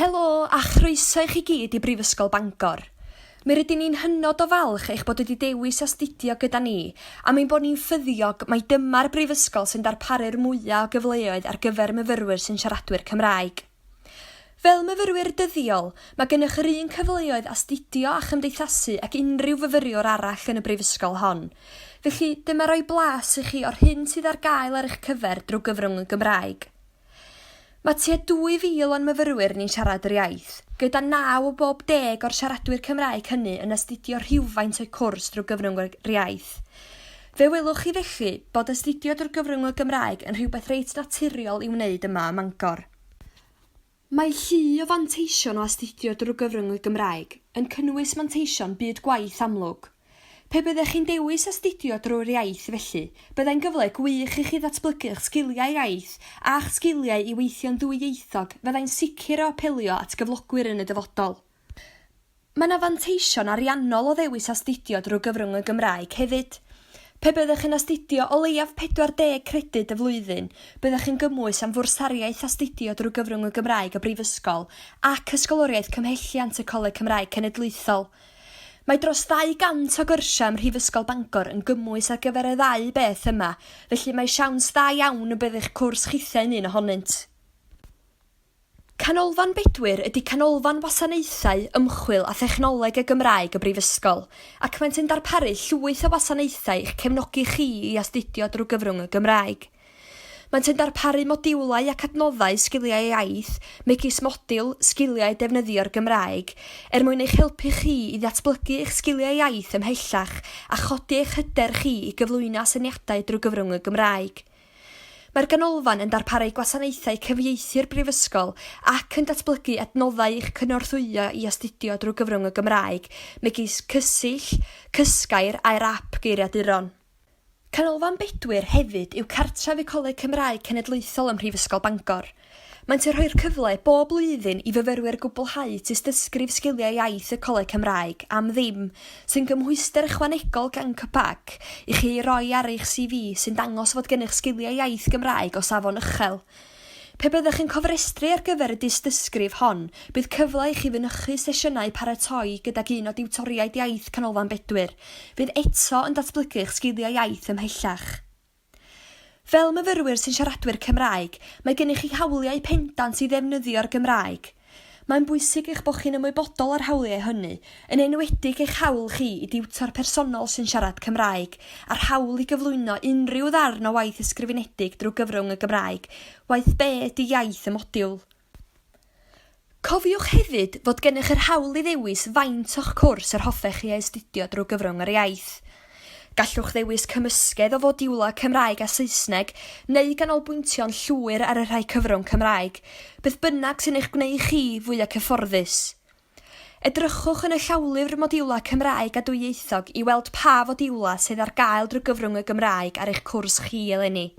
Helo a chroeso i chi gyd i Brifysgol Bangor. Mi rydyn ni'n hynod o falch eich bod wedi dewis astudio gyda ni am ein bod ni'n ffyddiog mai dyma'r brifysgol sy'n darparu'r mwyaf o gyfleoedd ar gyfer myfyrwyr sy'n siaradwyr Cymraeg. Fel myfyrwyr dyddiol, mae gennych yr un cyfleoedd astudio a chymdeithasu ag unrhyw fyfyriwr arall yn y brifysgol hon, felly dyma roi blas i chi o'r hyn sydd ar gael ar eich cyfer drwy gyfrwng y Gymraeg. Mae tua 2,000 o'n myfyrwyr ni'n siarad yr iaith, gyda naw o bob deg o'r siaradwyr Cymraeg hynny yn astudio rhywfaint o'u cwrs drwy gyfrwng yr iaith. Fe welwch chi felly bod astudio drwy gyfrwng y Gymraeg yn rhywbeth reit naturiol i'w wneud yma ym Mangor. Mae llu o fanteision o astudio drwy gyfrwng y Gymraeg, yn cynnwys manteision byd gwaith amlwg. Pe byddech chi'n dewis astudio drwy'r iaith felly, byddai'n gyfle gwych i chi ddatblygu'ch sgiliau iaith a'ch sgiliau i weithio'n ddwyieithog fyddai'n sicr o apelio at gyflogwyr yn y dyfodol. Mae 'na fanteision ariannol o ddewis astudio drwy gyfrwng y Gymraeg hefyd. Pe byddech yn astudio o leiaf 40 credyd y flwyddyn, byddech yn gymwys am fwrsariaeth astudio drwy gyfrwng y Gymraeg y Brifysgol ac Ysgoloriaeth Cymhelliant y Coleg Cymraeg Cenedlaethol. Mae dros 200 o gyrsiau ym Mhrifysgol Bangor yn gymwys ar gyfer y ddau beth yma, felly mae siawns dda iawn y bydd eich cwrs chithiau'n un ohonynt. Canolfan Bedwyr ydy Canolfan Wasanaethau, Ymchwil a Thechnoleg y Gymraeg y Brifysgol, ac maent yn darparu llwyth o wasanaethau i'ch cefnogi chi i astudio drwy gyfrwng y Gymraeg. Maent yn darparu modiwlau ac adnoddau sgiliau iaith, megis modiwl Sgiliau Defnyddio'r Gymraeg, er mwyn eich helpu chi i ddatblygu eich sgiliau iaith ymhellach a chodi eich hyder chi i gyflwyno asyniadau drwy gyfrwng y Gymraeg. Mae'r Ganolfan yn darparu gwasanaethau cyfieithu'r Brifysgol ac yn datblygu adnoddau i'ch cynorthwyo i astudio drwy gyfrwng y Gymraeg, megis Cysill, Cysgair a'r ap geiriaduron. Canolfan Bedwyr hefyd yw cartref y Coleg Cymraeg Cenedlaethol ym Mhrifysgol Bangor. Maent yn rhoi'r cyfle bob blwyddyn i fyfyrwyr gwblhau tystysgrif Sgiliau Iaith y Coleg Cymraeg am ddim, sy'n gymhwyster ychwanegol gan CCPAC i chi ei roi ar eich CV sy'n dangos fod gennych sgiliau iaith Gymraeg o safon uchel. Pe byddwch yn cofrestru ar gyfer y dystysgrif hon, bydd cyfle i chi fynychu sesiynau paratoi gydag un o diwtoriaid iaith Canolfan Bedwyr, fydd eto yn datblygu'ch sgiliau iaith ymhellach. Fel myfyrwyr sy'n siaradwyr Cymraeg, mae gennych chi hawliau pendant i ddefnyddio'r Gymraeg. Mae'n bwysig eich bod chi'n ymwybodol o'r hawliau hynny, yn enwedig eich hawl chi i diwtor personol sy'n siarad Cymraeg, a'r hawl i gyflwyno unrhyw ddarn o waith ysgrifenedig drwy gyfrwng y Gymraeg, waeth be ydy iaith y modiwl. Cofiwch hefyd fod gennych yr hawl i ddewis faint o'ch cwrs yr hoffech chi ei astudio drwy gyfrwng yr iaith. Gallwch ddewis cymysgedd o fodiwlau Cymraeg a Saesneg neu ganolbwyntio'n llwyr ar y rhai cyfrwng Cymraeg, beth bynnag sy'n eich gwneud chi fwya cyfforddus. Edrychwch yn y llawlyfr Modiwlau Cymraeg a Dwyieithog i weld pa fodiwlau sydd ar gael drwy gyfrwng y Gymraeg ar eich cwrs chi eleni.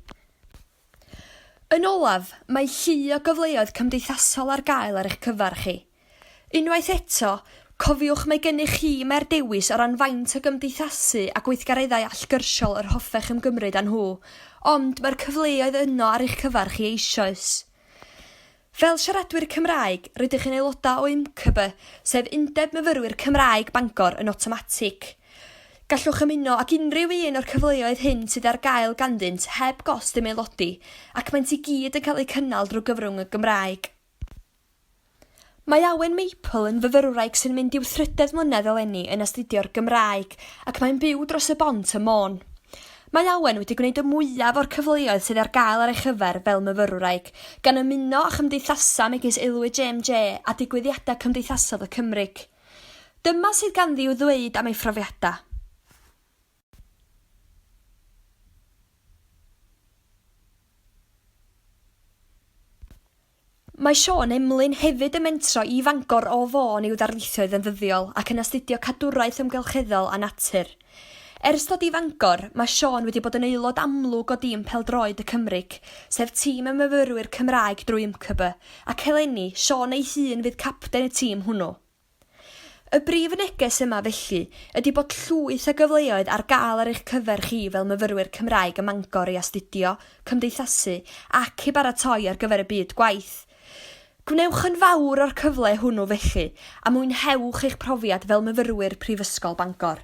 Yn olaf, mae llu o gyfleoedd cymdeithasol ar gael ar eich cyfer chi. Unwaith eto, cofiwch mae gennych chi mer dewis o ran faint o gymdeithasu a gweithgareddau allgyrsiol yr hoffech ymgymryd â nhw, ond mae'r cyfleoedd yno ar eich cyfer chi eisoes. Fel siaradwyr Cymraeg, rydych yn aelodau o UMCB, sef Undeb Myfyrwyr Cymraeg Bangor, yn awtomatig. Gallwch ymuno ag unrhyw un o'r cyfleoedd hyn sydd ar gael ganddynt heb gost ymaelodi, ac maent i gyd yn cael eu cynnal drwy gyfrwng y Gymraeg. Mae Awen Maple yn fyfyrwraig sy'n mynd i'w thrydedd mlynedd eleni yn astudio'r Gymraeg ac mae'n byw dros y bont ym Môn. Mae Awen wedi gwneud y mwyaf o'r cyfleoedd sydd ar gael ar ei chyfer fel myfyrwraig, gan ymuno â chymdeithasau megis Aelwyd JMJ a digwyddiadau cymdeithasol y Cymryg. Dyma sydd ganddi i'w ddweud am ei phrofiadau. Mae Siôn Emlyn hefyd yn mentro i Fangor o Fôn i'w darlithioedd yn ddyddiol ac yn astudio Cadwraeth Amgylcheddol a Natur. Ers dod i Fangor, mae Siôn wedi bod yn aelod amlwg o dîm Pêl-droed y Cymryc, sef tîm y myfyrwyr Cymraeg drwy YMCB, ac eleni, Siôn ei hun fydd capten y tîm hwnnw. Y brif neges yma felly ydi bod llwyth o gyfleoedd ar gael ar eich cyfer chi fel myfyrwyr Cymraeg ym Mangor i astudio, cymdeithasu ac i baratoi ar gyfer y byd gwaith. Gwnewch yn fawr o'r cyfle hwnnw felly a mwynhewch eich profiad fel myfyrwyr Prifysgol Bangor.